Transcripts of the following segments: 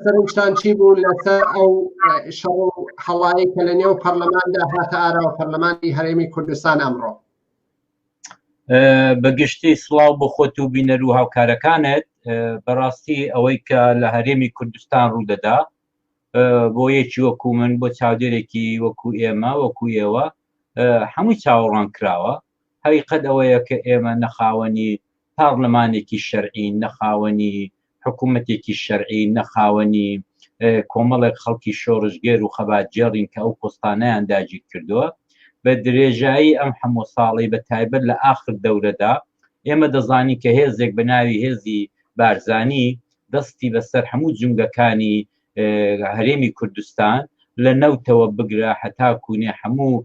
سەرشتان چی بوو لەسەر ئەو شەڕ و هەڵایی کە لە نێو پەرلەماندا هاتە ئاراوە پەرلەمانی هەرێمی کوردستان ئەمڕۆ بەگشتی سلااو بۆ خۆت و بینەر و هاوکارەکانت بەڕاستی ئەوەی کە لە هەرێمی کوردستان ڕوودەدا بۆ یەکی وەکو من بۆ چاودێرێکی وەکو ئێمە وەکو ئێوە هەمووی چاوەڕوان کراوە هەوی قەت ئەوەیە کە ئێمە نەخاوەنی پارلەمانێکی شەرعی نەخاوەنی حکوومەتێکی شەرعی، نە خاوەنی، کۆمەڵێک خەڵکی شۆڕشگێر و خەباتگێڕین کە ئەو پۆستانەیان داگیر کردووە. بە درێژایی ئەم هەموو ساڵەی بە تایبەت لە ئاخر دەورەدا ئێمە دەزانین کە هێزێک بە ناوی هێزی بارزانی دەستی بەسەر هەموو جومگەکانی هەرێمی کوردستان لە نەوتەوە بگرە هەتا کوونێ هەموو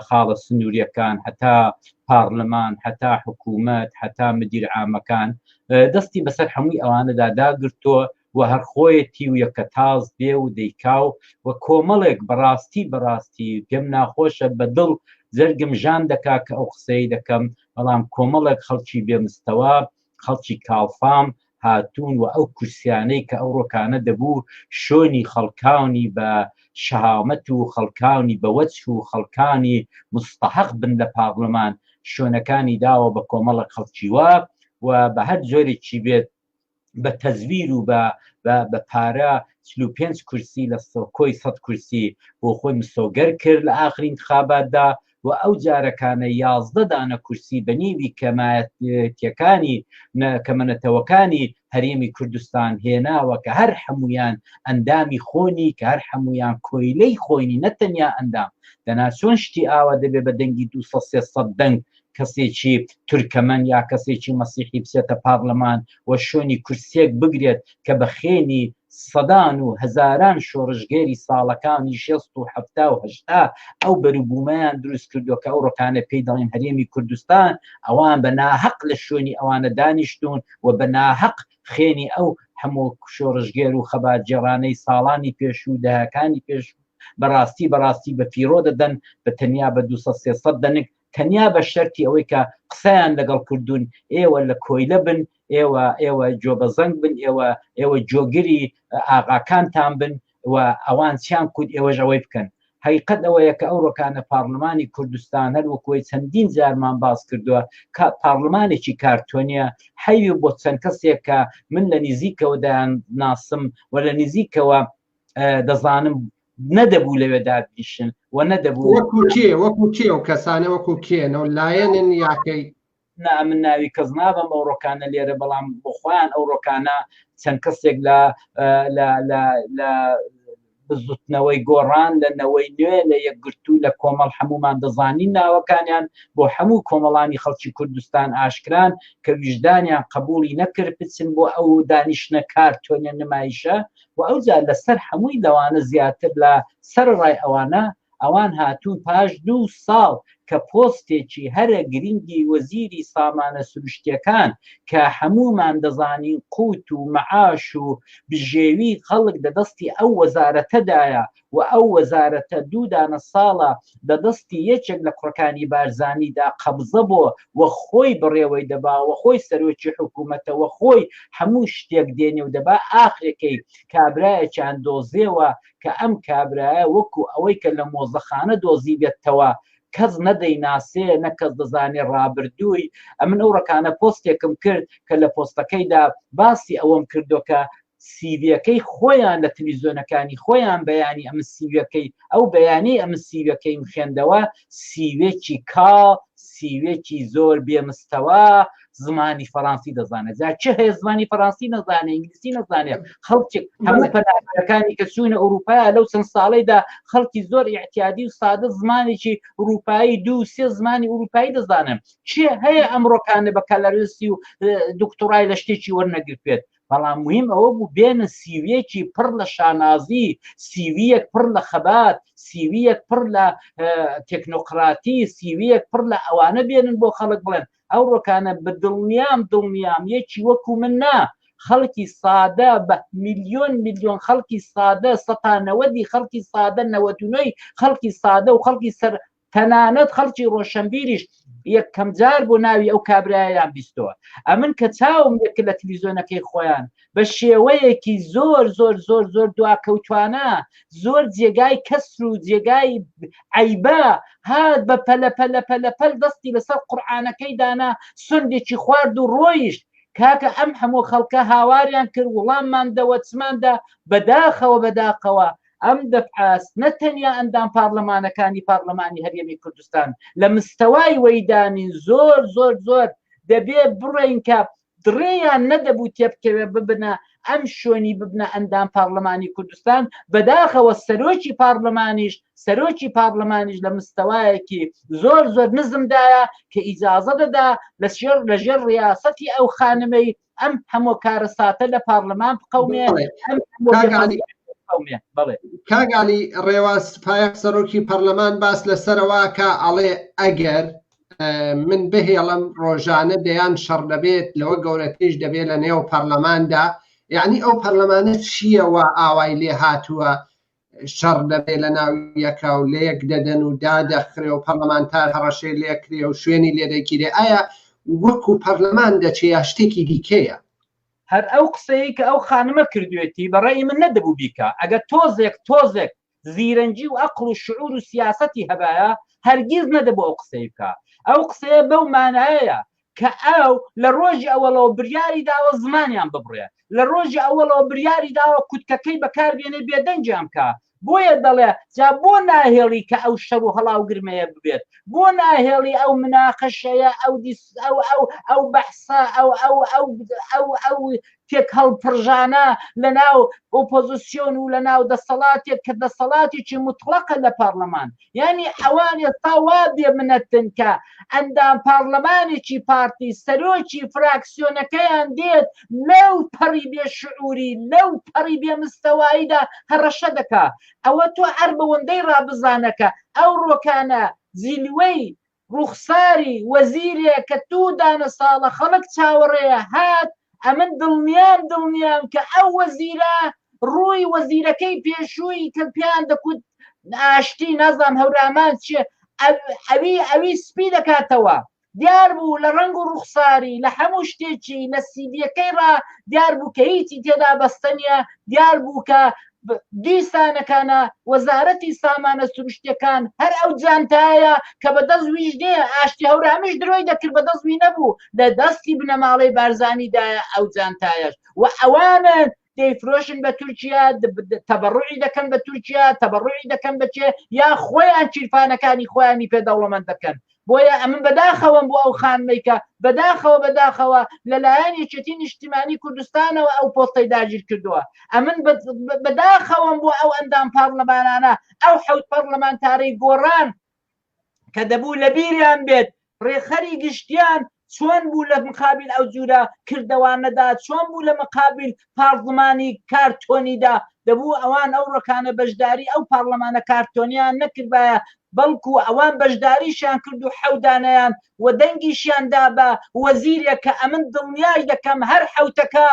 خاڵە سنووریەکان هەتا پارلمان هەتا حکوومەت هەتا مدیر ئامەکان دەستی بەسەر هەمووی ئەوانەدا داگرتووە و هەرخۆیەتی و یەکە تاز دێ و دەیکا و و کۆمەڵێک بەڕاستی بەڕاستی پێم ناخۆشە بە دڵ زەرگم ژان دەکا کە ئەو قسەی دەکەم بەڵام کۆمەڵێک خەڵکی بێمستەوە خەڵکی کاڵفام هاتوون و ئەو کورسیانەی کە ئەو ڕۆکانە دەبوو شۆنی خەڵکانی بە شەهامەت و خەڵکانی بەوەچ و خەڵکانی مستحق بن لە پاڕلمان شوێنەکانی داوە بە کۆمەڵە خەڵکیوە و بە هەر جۆرێکی بێت بە تەزویر و بە بە پارە پێنج کورسی لە سۆکۆی سەد کورسی بۆ خۆی مسۆگەر کرد لە ئاخرین خاباتدا و ئەو جارەکانە یازدە دانە کورسی بە نیوی کەمایەتیەکانی کەمەنەتەوەکانی هەرێمی کوردستان هێناوە کە هەر هەمویان ئەندامی خۆنی کە هەر هەمویان کۆیلەی خۆینی نەتەنیا ئەندام دەنا چۆن شتی ئاوا دەبێ بە دەنگی دو دەنگ کەسێکی تورکەمەن یا کەسێکی مەسیحی بچێتە پارلەمان و شوێنی کورسێک بگرێت کە بە خێنی سەدان و هەزاران شۆڕشگێری ساڵەکانی شێست و حەفتا و هەشتا ئەو بەروبوومەیان دروست کردووە کە ئەوڕۆکانە پێی دەڵێن هەرێمی کوردستان، ئەوان بە ناهەق لە شوێنی ئەوانە دانیشتوون و بە ناهەق خوێنی ئەو هەموو شۆڕشگێر و خەباتگێڕانەی ساڵانی پێشوو و دەهەکانی پێشوو بە ڕاستی بە ڕاستی بە فیڕۆ دەدەن، بە تەنیا بە دوو سەد سێ سەد دەنک تەنیا بە شەرتی ئەوەی کە قسەیان لەگەڵ کردوون ئێوە لە کۆیلە بن ئێوە ئێوە جۆبەزەنگ بن ئێوە ئێوە جۆگری ئاغاکانتان بن و ئەوان چیان کورد ئێوەش ئەوەی بکەن حقیقت ئەوەیە کە ئەو ڕۆکانە پارلمانی کوردستان هەر وەکوی چەندین جارمان باس کردووە کە پارلمانێکی کارتۆنیە حەوی بۆ چەند کەسێک کە من لە نزیکەوە دایان ناسم و لە نزیکەوە دەزانم نەدەبوو لەوێ دابیشن و نەدەبوو وەکو کێ وەکو کێ و کەسانە وەکو کێنەوە لایەنن یاکەی نا من ناوی کەس نابم ئەو ڕۆکانە لێرە بەڵام بۆخۆیان ئەو ڕۆکانە چەند کەسێک لە لە بزوتنەوەی گۆڕان لە نەوەی نوێ لە یەکگرتوو لە کۆمەڵ هەمومان دەزانین ناوەکانیان بۆ هەموو کۆمەڵانی خەڵکی کوردستان ئاشکران کە ویژدانیان قبولی نەکرد بچن بۆ ئەو دانیشتە کارتۆنە نمایشە وە ئەوجا لە سەر هەمووی لەوانە زیاتر لە سەرەڕای ئەوانە ئەوان هاتوون پاش دوو ساڵ کە پۆستێکی هەرە گرنگی وەزیری سامانە سروشتیەکان کە هەموومان دەزانین قووت و مەعاش و بژێوی خەڵک لە دەستی ئەو وەزارەتەدایە و ئەو وەزارەتە دوو دانە ساڵە لە دەستی یەکێک لە کوڕەکانی بارزانیدا قەبزە بۆ و خۆی بەڕێوەی دەبا و خۆی سەرۆکی حکوومەتە و خۆی هەموو شتێک دێنێ و دەبا ئاخرەکەی کابرایەکیان دۆزێوە کە ئەم کابرایە وەکوو ئەوەی کە لە مۆزەخانە دۆزیبێتتەوە کەس نەدەیناسێ نە کەس دەزانێ ڕابردووی ئەمن ئەو ڕەکانە پۆستێکم کرد کە لە پۆستەکەیدا باسی ئەوەم کردۆ کە سیویەکەی خۆیان لە تلویزۆنەکانی خۆیان بەیانی ئەم سیوەکەی ئەو بەیانی ئەم سیوەکەیم خوێندەوە سیوێکی کا سیوێکی زۆر بێمستەوە زمانی فەڕەنسی دەزانێت جا چه هەیە زمانی فەڕەنسی نەزانێت ئینگلیسی نەزانێت خەڵکی هەموو پەناکانی کە چوونە ئەوروپا لەو چەند ساڵیدا خەڵکی زۆر احتیادی و سادە زمانێکی ئەوروپایی دوو سێ زمانی ئەوروپایی دەزانن چێ هەیە ئەمڕۆکانە بە کەلەرسی و دکتۆرای لە شتێکی وەرنەگرتێت بەڵام موهیم ئەوە بوو بێنە سیویەکی پڕ لە شانازی سیویەک پڕ لە خەبات سیویەک پڕ لە تەکنۆقراتی سیویەک پڕ لە ئەوانە بێنن بۆ خەڵک بڵێن ئەو ڕۆکانە بە دڵنیام دڵنیام یەکی وەکو من نا خەڵکی سادە بە میلیۆن میلیۆن خەڵکی سادە سەتانەوەدی خەڵکی سادە نەوەدونەی خەڵکی سادە و خەڵکی سەر تەنانەت خەڵکی ڕۆشنبیریش یەکەم جار بۆ ناوی ئەو کابرایان بیستەوە ئەمن کە چاوم یەک لە تلویزیۆنەکەی خۆیان بە شێوەیەکی زۆر زۆر زۆر زۆر دواکەوتوانە زۆر جێگای کەسر و جێگای عیبا هات بە پەلە پەلە پەلە پەل دەستی لەسەر قورآانەکەی دانا سندێکی خوارد و ڕۆیشت کاکە ئەم هەموو خەڵکە هاواریان کرد وڵامماندەوە چماندا بەداخەوە بەداخەوە ئەم دەفعاس نە تەنیا ئەندام پارلەمانەکانی پارلەمانی هەرێمی کوردستان لە مستەوای وەیدانی زۆر زۆر زۆر دەبێ بڕێنکە دڕێیان نەدەبوو تێبکەوێ ببنە ئەم شوێنی ببنە ئەندام پارلەمانی کوردستان بەداخەوە سەرۆکی پارلەمانیش سەرۆکی پارلەمانیش لە مستەوایەکی زۆر زۆر نزمدایە کە ئیجاازە دەدا لە شێر لە ژێر ڕاستەتی ئەو خانمەی ئەم هەمۆ کارەساتە لە پارلەمان بقەومێ کاگالی ڕێواز پایەق سەرۆکی پەرلەمان باس لە سەرواکە ئەڵێ ئەگەر من بهێڵم ڕۆژانە دەیان شەڕ دەبێت لەوە گەورەتیش دەبێت لە نێو پەرلەماندا یعنی ئەو پەرلەمانە چییەوە ئاوای لێ هاتووە شەڕ دەبێ لە ناو یەکا و لە یەک دەدەن و دادەخرێ و پەرلەمانتار هەڕەشەی لێکرێ و شوێنی لێدەگیرێ ئایا وەکو پەرلەمان دەچێ یا شتێکی دیکەیە هەر ئەو قسەیە کە ئەو خانمە کردوێتی بەڕێی من نەدەبوو بیکە ئەگە تۆزێک تۆزێک زیرەنجی و ئەقل و شعور و سیاستی هەبایە هەرگیز نەدەبوو ئەو قسەی بکە ئەو قسەیە بەو مانایە کە ئەو لە ڕۆژی ئەوەڵەوە بریاری داوە زمانیان ببڕێ، لە ڕۆژی ئەوەڵەوە بریاری داوە کوتکەکەی بەکار بێنێ بێدەنگیان بکا، بۆیە دەڵێ جا بۆ ناهێڵی کە ئەو شەڕ و هەڵا و گرمەیە ببێت، بۆ ناهێڵی ئەو مناقەشەیە، ئەو ئەو ئەو ئەو بەحسە، ئەو ئەو ئەو ئەو ئەو تێکهەڵپڕژانە لەناو ئۆپۆزسیۆن و لەناو دەسەڵاتێک کە دەسەڵاتێکی موتڵەقە لە پارلەمان یانی ئەوان ئێستا وا بێ منەتن کە ئەندام پارلەمانێکی پارتی سەرۆکی فراکسیۆنەکەیان دێت لەو پەڕی بێ شعوری لەو پەڕی بێ مستەواییدا هەڕەشە دەکا ئەوە تۆ هەر بەوەندەی ڕابزانەکە ئەو ڕۆکانە زیلوەی ڕوخساری وەزیرێ کە دوو دانە ساڵە خەڵک چاوەڕێیە هات، ئەمن دڵنیام دڵنیام کە ئەو وەزیرە ڕووی وەزیرەکەی پێشووی کە پێیان دەکوت ئاشتی نازام هەورامان چیە ئەوی ئەوی سپی دەکاتەوە دیار بوو لە ڕنگ و ڕوخساری لە هەموو شتێکی لە سیدیەکەی ڕا دیار بوو کە هیچی تێدا بەستەنیە دیار بوو کە دیسانەکانە وەزارەتی سامانە سروشتەکان هەر ئەو جانتایە کە بە دەست ویژنێ ئاشتی هەورامیش درۆی دەکرد بە دەست وی نەبوو لە دەستی بنەماڵەی بارزانیدایە ئەو جانتایەش و ئەوانە دەیفرۆشن بە تورکیا تەبڕوعی دەکەن بە تورکیا تەبڕوعی دەکەن بەچێ یا خۆیان چیرفانەکانی خۆیانی پێ دەوڵەمەند دەکەن بۆیە ئەمن بەداخەوەم بۆ ئەو خانمەی کە بەداخەوە بەداخەوە لەلایەن یەکێتی نیشتیمانی کوردستانەوە ئەو پۆستەی داگیر کردووە ئەمن بەداخەوەم بۆ ئەو ئەندام پارلەمانانە ئەو حەوت پەرلەمانتارەی گۆڕان کە دەبوو لە بیریان بێت ڕێخەری گشتیان چۆن بوو لە مقابل ئەو جورە کردەوانەدا چۆن بوو لە مقابل پارلمانی کارتۆنیدا دەبوو ئەوان ئەو ڕکانە بەشداری ئەو پارلمانە کارتۆنیان نەکردبایە بەڵکو ئەوان بەشداریشیان کرد و حەودانیان و دەنگیشیاندا بە وەزیرێک کە ئەمن دڵنیاش دەکەم هەر حوتەکە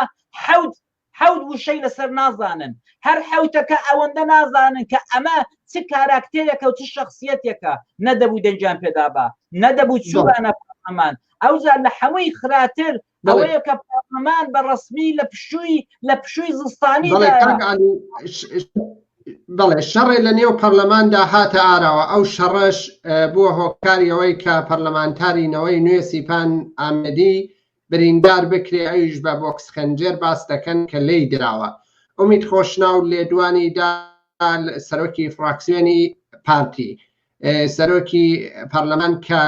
حوت حەوت وشەی لەسەر نازانن. هەر حەوتەکە ئەوەندە نازانن کە ئەمە چ کاراکتێرێکە و چ شەخسیەتێکە. نەدەبوو دەنگیان پێدابا. نەدەبوو چووبانە پارلەمان. ئەوجا لە حەمووی خراتر ئەوەیە کە پارلەمان بە ڕەسمی لە پشووی لە پشووی زستانی بەڵێ دایە. کاک عەلی ش- بەڵێ شەڕێ لە نێو پەرلەماندا هاتە ئاراوە ئەو شەڕەش اه، بووە هۆکاری ئەوەی کە پەرلەمانتاری نەوەی نوێ سیپان ئامێدی بریندار بکرێ ئەویش بە بۆکس خنجێر باس دەکەن کە لێی دراوە. ئومید خۆشناو لێدوانی دا سەرۆکی فڕاکسیۆنی پارتی سەرۆکی پەرلەمان کە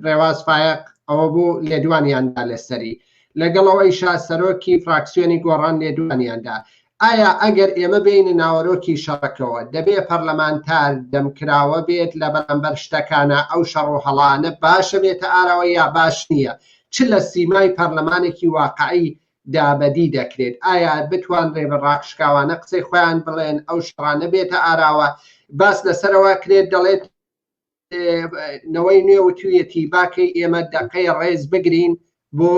رێواز فایەق ئەوە بوو لێدوانیان دا لەسەری لەگەڵ ئەوەیشا سەرۆکی فراکسیۆنی گۆڕان لێدوانیان دا ئایا ئەگەر ئێمە بێینە ناوەرۆکی شەڕەکەوە، دەبێ پەرلەمانتار دەمکراوە بێت لە بەرامبەر شتەکانا، ئەو شەڕ و هەڵانە باشە بێتە ئاراوە یا باش نییە؟ چ لە سیمای پەرلەمانێکی واقعی دا بەدی دەکرێت؟ ئایا بتوانرێ بە ڕاشکاوانە قسەی خۆیان بڵێن، ئەو شەڕانە بێتە ئاراوە؟ باس لەسەرەوە ئەکرێت دەڵێت، نەوەی نوێ وتویەتی باکەی ئێمە دەقەی ڕێز بگرین بۆ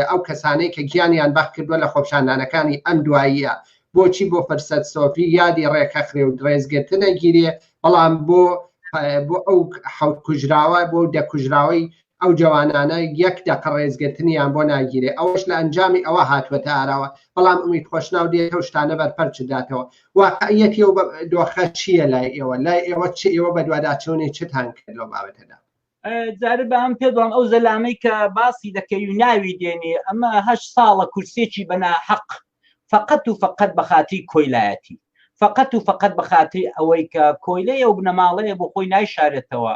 ئەو کەسانەی کە گیانیان بەخت کردووە لە خۆپشاندانەکانی ئەم دواییە بۆچی بۆ فرسەت سۆفی یادی ڕێکە خرێ و درێزگرتنە گیرێ بەڵام بۆ بۆ ئەو حوت کوژراوە بۆ دەکوژراوەی ئەو جەوانانە یەک دەقە ڕێزگرتنیان بۆ ناگیرێ ئەوەش لە ئەنجامی ئەوە هاتووەتە ئاراوە بەڵام ئومید خۆشناو دێت ئەو شتانە بەرپەرچ داتەوە واقعیەتی و دۆخە چییە لای ئێوە لای ئێوە چ ئێوە بەدواداچوونی چتان کرد لەو بابەتەدا جارە بە ئەم پێدوان ئەو زەلامەی کە باسی دەکەی و ناوی دێنێ ئەمە هە ساڵە کورسێکی بەنا حەق فقط و فقط بە خاتی کۆیلایەتی فقط و فقط بە خاتی ئەوەی کە کۆیلەیە و بنەماڵەیە بۆ خۆی نایشارێتەوە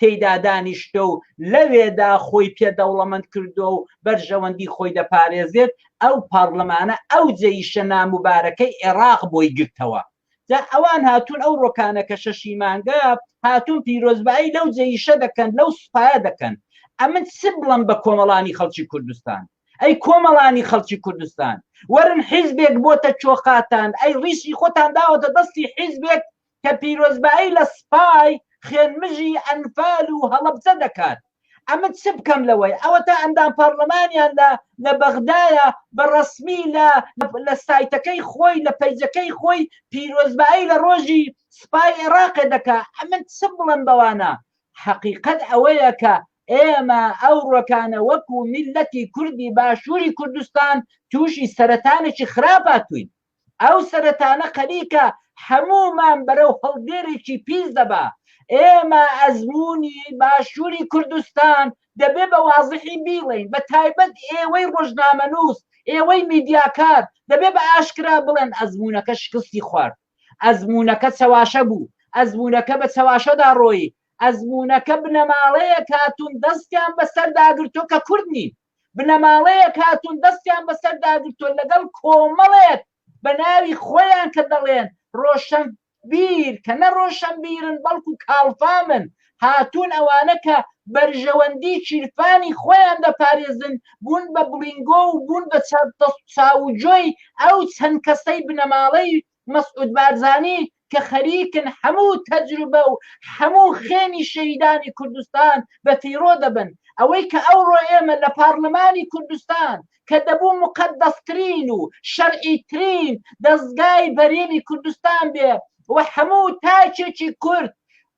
تێیدا دانیشتووە و لەوێدا خۆی پێ دەوڵەمەند کردووە و بەرژەوەندی خۆی دەپارێزێت، ئەو پارلمانە ئەو جەیشە ناموبارەکەی عێراق بۆی گرتەوە. جا ئەوان هاتوون ئەو رۆکانە کە شەشی مانگە هاتوون پیرۆزبایی لەو جەیشە دەکەن، لەو سوپایە دەکەن. ئەمن چ بڵێم بە کۆمەڵانی خەڵکی کوردستان؟ ئەی کۆمەڵانی خەڵکی کوردستان وەرن حیزبێک بۆتە چۆقاتان، ئەی ریشی خۆتان داوەتە دەستی حیزبێک کە پیرۆزبایی لە سپای خوێنمژی ئەنفال و هەڵەبجە دەکات، ئەمن چ بکەم لەوەی ئەوەتا ئەندام پارلمانیان لە لە بەغدایە بە ڕەسمی لە لە سایتەکەی خۆی لە پەیجەکەی خۆی پیرۆزبایی لە ڕۆژی سپای ئێڕاقێ دەکا ئەمن چ بڵێم بەوانە حەقیقەت ئەوەیە کە ئێمە ئەو ڕۆکانە وەکو میللەتی کوردی باشووری کوردستان تووشی سەرەتانێکی خراپ هاتووین. ئەو سەرەتانە خەریکە هەموومان بەرەو هەڵدێرێکی پیس دەبا، ئێمە ئەزموونی باشووری کوردستان دەبێ بە وازحی بیڵێین، بە تایبەت ئێوەی ڕۆژنامەنووس، ئێوەی میدیاکار دەبێ بە ئاشکرا بڵێن ئەزموونەکە شکستی خوارد، ئەزموونەکە چەواشە بوو، ئەزموونەکە بە چەواشەدا ڕۆیی، ئەزموونەکە بنەماڵەیەک هاتوون دەستیان بەسەردا گرتووە کە کورد نین. بنەماڵەیەک هاتوون دەستیان بەسەردا گرتووە لەگەڵ کۆمەڵێک بە ناوی خۆیان کە دەڵێن ڕۆشن بیر کە نە ڕۆشن بیرن بەڵکو کاڵفامن هاتوون ئەوانە کە بەرژەوەندی چیرفانی خۆیان دەپارێزن بوون بە بڵینگۆ و بوون بە چاوجۆی ئەو چەند کەسەی بنەماڵەی مەسعود بارزانی کە خەریکن هەموو تەجروبە و هەموو خوێنی شەهیدانی کوردستان بە فیڕۆ دەبن ئەوەی کە ئەوڕۆ ئێمە لە پارلمانی کوردستان کە دەبوو مقەدەسترین و شەرعی ترین دەزگای بەرێنی کوردستان بێ و هەموو تاکێکی کورد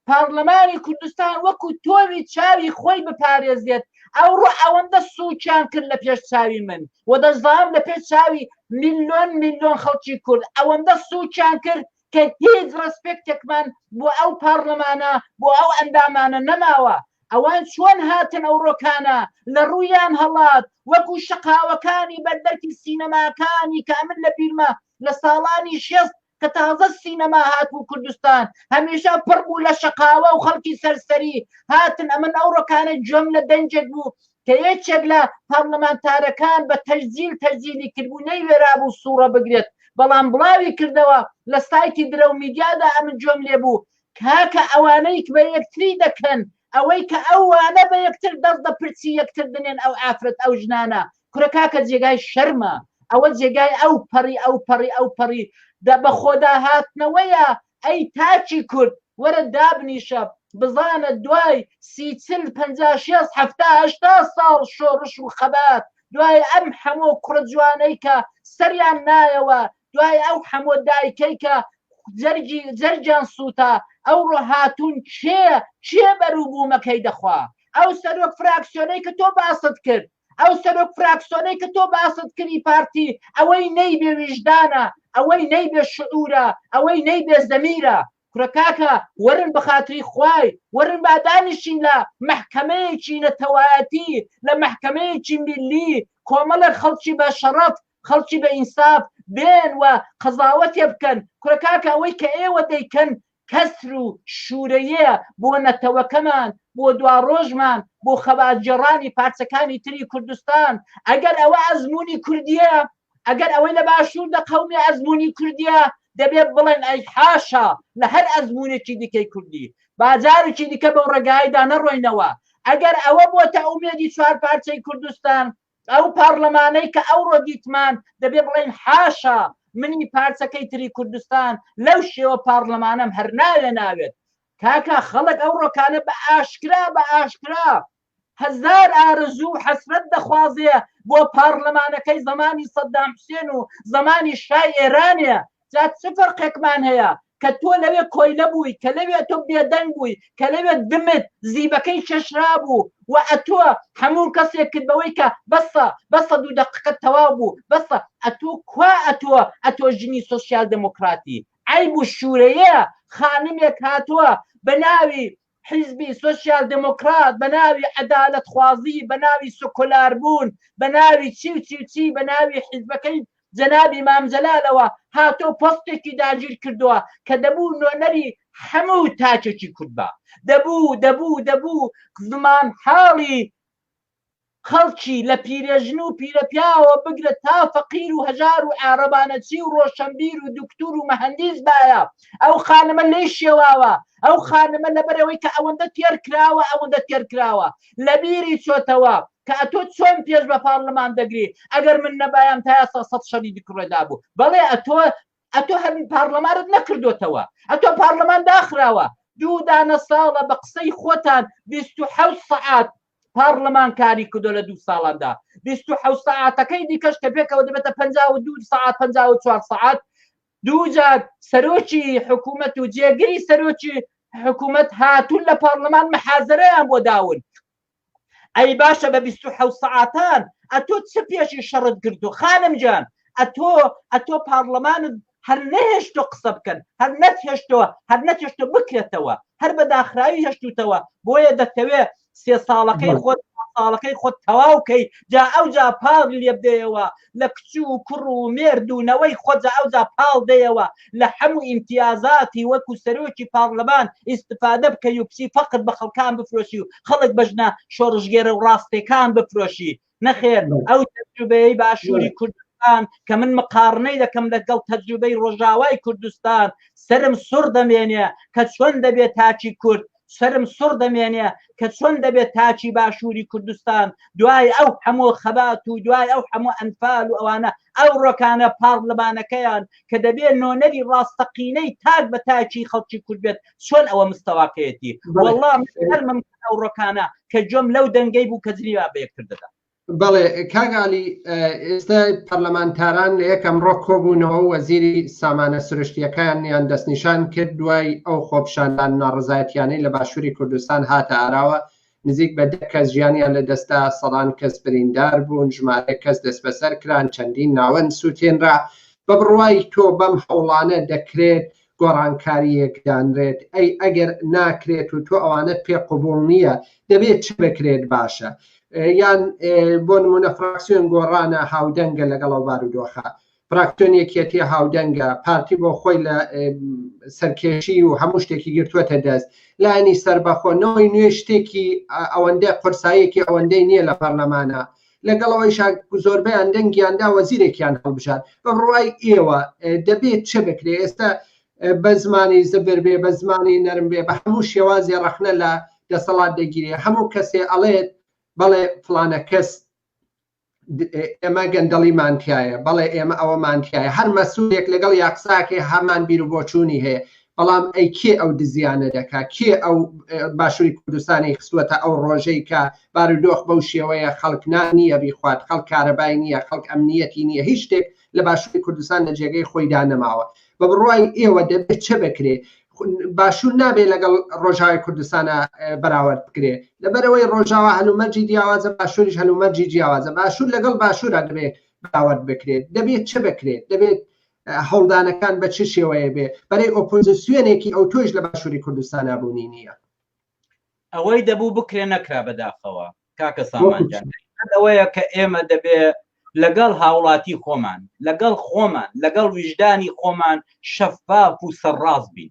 پارلەمانی کوردستان وەکو تۆوی چاوی خۆی بپارێزێت ئەوڕۆ ئەوەندە سووکیان کرد لە پێش چاوی من و دەشزانم لە پێش چاوی میلیۆن میلیۆن خەڵکی کورد ئەوەندە سووکیان کرد کە هیچ ڕسپێکتێکمان بۆ ئەو پارلەمانە بۆ ئەو ئەندامانە نەماوە ئەوان چۆن هاتن ئەو ڕۆکانە لە ڕوویان هەڵات وەکو شقاوەکانی بەردەرکی سینەماکانی کە من لە بیرمە لە ساڵانی شێست کە تازە سینەما هاتبوو کوردستان هەمیشە پڕ بوو لە شەقاوە و خەڵکی سەرسەری هاتن ئەمن ئەو ڕۆکانە جۆم لە دەنجێک بوو کە یەکێک لە پارلەمانتارەکان بە تەجزیل تەجزیلی کردبوو نەی وێرابوو سوڕە بگرێت بەڵام بڵاوی کردەوە لە سایتی درەو میدیادا ئەمن جۆم لێ بوو کاکە ئەوانەی بە یەکتری دەکەن ئەوەی کە ئەوانە بە یەکتر دەست بە پرچی یەکتر دنێن ئەو ئافرەت ئەو ژنانە کورە کاکە جێگای شەرمە ئەوە جێگای ئەو پەڕی ئەو پەڕی ئەو پەڕی دە بە خۆدا هاتنەوەیە ئەی تاکی کورد وەرە دابنیشە بزانە دوای سی چل پەنجا شێست حەفتا هەشتا ساڵ شۆڕش و خەبات دوای ئەم حەمۆ کوڕە جوانەی کە سەریان نایەوە دوای ئەو حەمۆ دایکەی کە جەرگی جەرگیان سووتا ئەوڕۆ هاتوون کێ کێ بەروبوومەکەی دەخوا ئەو سەرۆک فراکسیۆنەی کە تۆ باست کرد ئەو سەرۆک فراکسۆنەی کە تۆ باست کردی پارتی ئەوەی نەی بێ ویژدانە ئەوەی نەی بێ شعورە ئەوەی نەی بێ زەمیرە کورە کاکە وەرن بە خاتری خوای وەرن با دانیشین لە مەحکەمەیەکی نەتەوایەتی لە مەحکەمەیەکی میلی کۆمەڵێک خەڵکی بە شەڕەف خەڵکی بە ئینساف بێن و قەزاوەتێ بکەن کورە کاکە ئەوەی کە ئێوە دەیکەن کەسر و شورەیێە بۆ نەتەوەکەمان بۆ دواڕۆژمان بۆ خەباتگێڕانی پارچەکانی تری کوردستان ئەگەر ئەوە ئەزمونی کوردیە ئەگەر ئەوەی لە باشور دەقەومی ئەزمونی کوردیە دەبێت بڵێن ئەی حاشا لە هەر ئەزمونێکی دیکەی کوردی باجارێکی دیکە بەو ڕێگایدا نەڕۆینەوە ئەگەر ئەوە بۆتە ئومێدی چوار پارچەی کوردستان ئەو پارلەمانەی کە ئەوڕۆ دیتمان دەبێ بڵێین حاشا منی پارچەکەی تری کوردستان لەو شێوە پارلەمانەم هەر ناوێ ناوێت کاکە خەڵک ئەو ڕۆکانە بە ئاشکرا بە ئاشکرا هەزار ئارەزوو و حەسرەت دەخوازێ بۆ پارلەمانەکەی زمانی سەددام حسێن و زمانی شای ئێرانێ جا چ فەرقێکمان هەیە کە تۆ لەوێ کۆیلە بووی کە لەوێ تۆ بێدەنگ بووی کە لەوێ دمت زیبەکەی چەشرابوو و ئەتۆ هەموو کەسێک کرد بەوەی کە بەسە بەسە دوو دەقەکە تەواو بوو بەسە ئەتۆ کوا ئەتۆ ئەتۆ ژنی سۆسیال دێمۆکڕاتی عەیب و شوورەیە خانمێک هاتووە بە ناوی حیزبی سۆسیال دێمۆکڕات بە ناوی عەدالەتخوازی، بە ناوی سکۆلاربوون، بە ناوی چی و چی و چی، بە ناوی حیزبەکەی جەنابی مام جەلالەوە هاتووە و پۆستێکی داگیر کردووە کە دەبوو نۆنەری حەموو تاکێکی کورد با. دەبوو، دەبوو، دەبوو زمانحاڵی خەڵکی لە پیرەژن و پیرەپیاوەوە بگرە تا فەقیر و هەژار و عارەبانەچی و ڕۆشەنبیر و دوکتور و مەهەندیس بایە، ئەو خانمە لێی شێواوە، ئەو خانمە لەبەرئەوەی کە ئەوەندە تێرکراوە، ئەوەندە تێرکراوە، لەبیری چۆتەوە کە ئەتۆ چۆن پێش بە پارلمان دەگری، ئەگەر من نەبایام تا ئێستا سەد شەری دکڕێدابوو، بەڵێ ئەتۆ ئەتۆ هەبی پارلەمانت نەکردوتەوە ئەتۆ پارلەمان داخراوە دوو دانە ساڵە بە قسەی خۆتان 26 سعات پارلەمان کاری کردو لە دوو ساڵاندا 26 سعاتەکەی دیکەش کە پێکەوە دەبێتە 52 سعات 54 سعات دووجار سەرۆکی حکوومەت و جێگری سەرۆکی حکوومەت هاتوون لە پارلەمان محازرەیان بۆ داون ئەی باشە بە بیست و حەوت سەعاتان ئەتۆ چ پێشی شەڕت گرتووە خانم جان ئەتۆ ئەتۆ پاڕلەمانت هەر نەهێشتۆ قسە بکەن هەر نەتهێشتۆە هەر نەتهێشتۆ بکرێتەوە هەر بە داخراوی هێشتوتەوە بۆیە دەتەوێ سێ ساڵەکەی خۆت ساڵەکەی خۆت تەواو کەی جا ئەوجا پاڕ لێبدەیەوە لە کچ و کوڕ و مێرد و نەوەی خۆجا ئەوجا پاڵ دەیەوە لە حەموو ئیمتیازاتی وەکو سەرۆکی پاڕلمان ئیستفادە بکەی و کچی فەقر بە خەڵکان بفرۆشی و خەڵک بە ژنە شۆڕشگێرە ڕاستەکان بفرۆشی نەخێر ئەو تەجروبەیەی باشووری کورد کوردستان کە من مقاڕنەی دەکەم لەگەڵ تەجروبەی ڕۆژاوای کوردستان سەرم سوڕ دەمێنێ کە چۆن دەبێ تاکی کورد سەرم سڕ دەمێنێ کە چۆن دەبێت تاچی باشووری کوردستان دوای ئەو هەموو خەبات و دوای ئەو هەموو ئەنفال و ئەوانە ئەو ڕۆکانە پاڕلمانەکەیان کە دەبێت نۆنەری ڕاستەقینەی تاک بە تاکی خەڵکی کورد بێت چۆن ئەوە مستەواکەیەتی وەڵام ئەو ڕۆکانە کە جۆم لەو دەنگەی بوو کە جنیوا بەیەکتر دەدا بەڵێ کاگالی ئێستا پەرلەمانتاران لە یەکەم ڕۆ کۆبوونەوە وەزیری سامانە سروشتیەکان یان دەستنیشان کرد دوای ئەو خۆپشاندان ناڕزایەتیانەی لە باشووری کوردستان هاتە ئاراوە نزیک بە دە کەس ژیانیان لە دەستا سەدان کەس بریندار بوون ژمارە کەس دەستبەسەر کران چەندین ناوەند سووتێنرا بە بڕوای تۆ بەم هەوڵانە دەکرێت گۆڕانکارییەک دانرێت، ئەی ئەگەر ناکرێت و تۆ ئەوانەت پێ قبوڵ نییە، دەبێت چ بکرێت باشە؟ یان بۆ نموونە فراکسیۆن گۆڕانە هاودەنگە لەگەڵ ئەو بارودۆخە، فراکسیۆن یەکێتی هاودەنگە، پارتی بۆ خۆی لە سەرکێشی و هەموو شتێکی گرتووەتە دەست، لایەنی سەربەخۆ، نەوەی نوێ شتێکی ئەوەندە قورساییەکی ئەوەندەی نییە لە پەرلەمانە، لەگەڵ ئەوەیشا زۆربەیان دەنگیان دا وەزیرێکیان هەڵبژار بە بڕوای ئێوە دەبێت چ بکرێت ئێستا بە زمانی زبر بێ بە زمانی نەرم بێ بە هەموو شێوازی ڕەخنە لە دەسەڵات دەگیرێ هەموو کەسێ ئەڵێت بەڵێ فلانە کەس ئێمە گەندەڵیمان تایە بەڵێ ئێمە ئەوەمان تایە هەر مەسوولێک لەگەڵ یاقساکێ هەمان بیر و بۆچوونی هەیە بەڵام ئەی کێ ئەو دزیانە دەکا کێ ئەو باشووری کوردستانی خستوەتە ئەو ڕۆژەی کە بارودۆخ بەو شێوەیە خەڵک نا نییە بیخوات خەڵک کارەبای نییە خەڵک ئەمنیەتی نییە هیچ شتێک لە باشووری کوردستان لە جێگەی خۆیدا نەماوە بە بڕوای ئێوە دەبێت چە بکرێ باشوور نابێ لەگەڵ ڕۆژاوی کوردستانە بەراورد بکرێ لەبەرەوەی ڕۆژاوا هەلومەرجی جیاوازە باشووریش هەلومەرجی جیاوازە باشوور لەگەڵ باشوورە دەبێت بەراورد بکرێت دەبێت چ بکرێت دەبێت هەوڵدانەکان بە چ شێوەیە بێ بەرەی ئۆپۆزیسیۆنێکی ئەو تۆش لە باشووری کوردستانا بوونی نییە ئەوەی دەبوو بکرێ نەکرا بەداخەوە کاکە سامانجان ئەوەیە کە ئێمە دەبێ لەگەڵ هاوڵاتی خۆمان لەگەڵ خۆمان لەگەڵ ویژدانی خۆمان شەفاف و سەرڕاست بین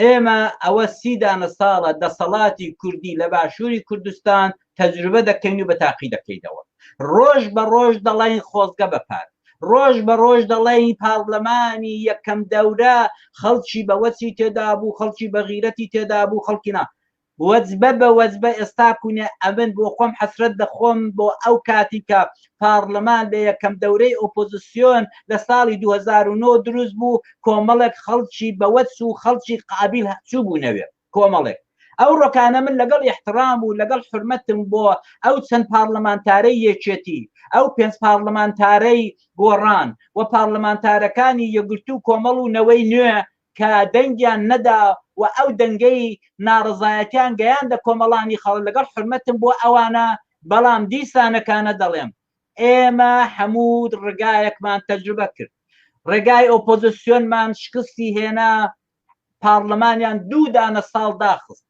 ئێمە ئەوە سی دانە ساڵە دەسەڵاتی کوردی لە باشووری کوردستان تەجروبە دەکەین و بە تاقی دەکەیتەوە ڕۆژ بە ڕۆژ دەڵین خۆزگە بەپات ڕۆژ بە ڕۆژ دەڵێی پارلەمانی یەکەم دەورە خەڵکی بەوەچی تێدا بوو خەڵکی بەغیرەتی تێدا بوو خەڵکینا وەجبە بە وەجبە ئێستا کونە ئەبن، بۆ خۆم حەسرەت دەخۆم بۆ ئەو کاتی کە پارڵمان لە یەکەم دەورەی ئۆپۆزسیۆن لە ساڵی دوو هەزار و نۆ دروست بوو کۆمەڵێک خەڵکی بەوەچ و خەڵکی قابیل چووبوونەوێ کۆمەڵێک ئەوڕۆکانە من لەگەڵ ئیحترام و لەگەڵ حورمەتم بۆ ئەو چەند پارڵمانتارەی یەکێتی ئەو پێنج پارڵمانتارەی گۆڕان و پارڵمانتارەکانی یەکگرتوو کۆمەڵ و نەوەی نوێ کە دەنگیان نەدا و ئەو دەنگەی ناڕەزایەتیان گەیاندە کۆمەڵانی خەڵک، لەگەڵ حورمەتم بۆ ئەوانە، بەڵام دیسانەکانە دەڵێم، ئێمە هەموو ڕێگایەکمان تەجروبە کرد، ڕێگای ئۆپۆزسیۆنمان شکستی هێنا، پاڕلمانیان دوو دانە ساڵ داخست،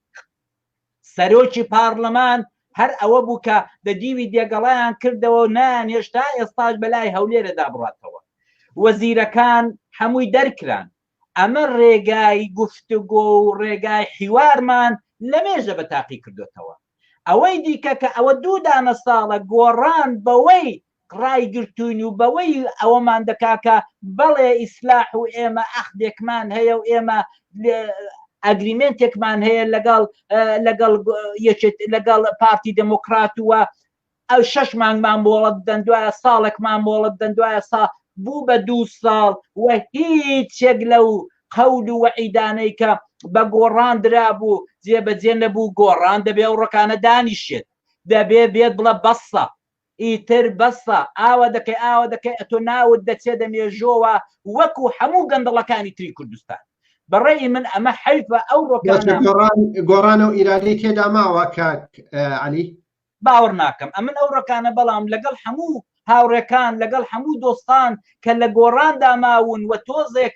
سەرۆکی پارڵمان هەر ئەوە بوو کە دە دیوی دێگەڵیان کردەوە و نایانهێشت تا ئێستاش بەلای هەولێرەدا بڕاتەوە. وەزیرەکان هەمووی دەرکران. ئەمە رێگای گفتوگۆ و رێگای حیوارمان لەمێژە بە تاقی کردۆتەوە. ئەوەی دیکە کە ئەوە دوو دانە ساڵە گۆڕان بەوەی ڕایگرتووین و بەوەی ئەوەمان دەکا کە بەڵێ ئیسلاح و ئێمە ئەخدێکمان هەیە و ئێمە ئەگریمێنتێکمان هەیە لەگەڵ لەگەڵ یەکێت لەگەڵ پارتی دموکرات وە ئەو شەش مانگمان مۆڵەت دەن دوایە ساڵێکمان مۆڵەت دەن دوایە سا بوو بە دوو ساڵ و هیچێک لەو قەول و وەعیدانەی کە بە گۆڕان درا بوو جێبەجێ نەبوو گۆڕان دەبێ و ڕکانە دانیشێت دەبێ بێت بڵە بەسە ئیتر بەسە ئاوا دەکەی ئاوا دەکەی ئەتۆ ناوت دەچێ دە مێژۆوە وەکو حەموو گەندەڵەکانی تری کوردستان بە ڕەئی من ئەمە حەیفە ئەو ڕۆکانە گۆڕان گۆڕانەو ئیرادەی تێدا ماوە کاک عەلی. باوەڕ ناکەم ئەمن ئەو ڕەکانە بەڵام لەگەڵ حەموو هاوڕێکان لەگەڵ حەموو دۆستان کە لە گۆڕاندا ماون وە تۆزێک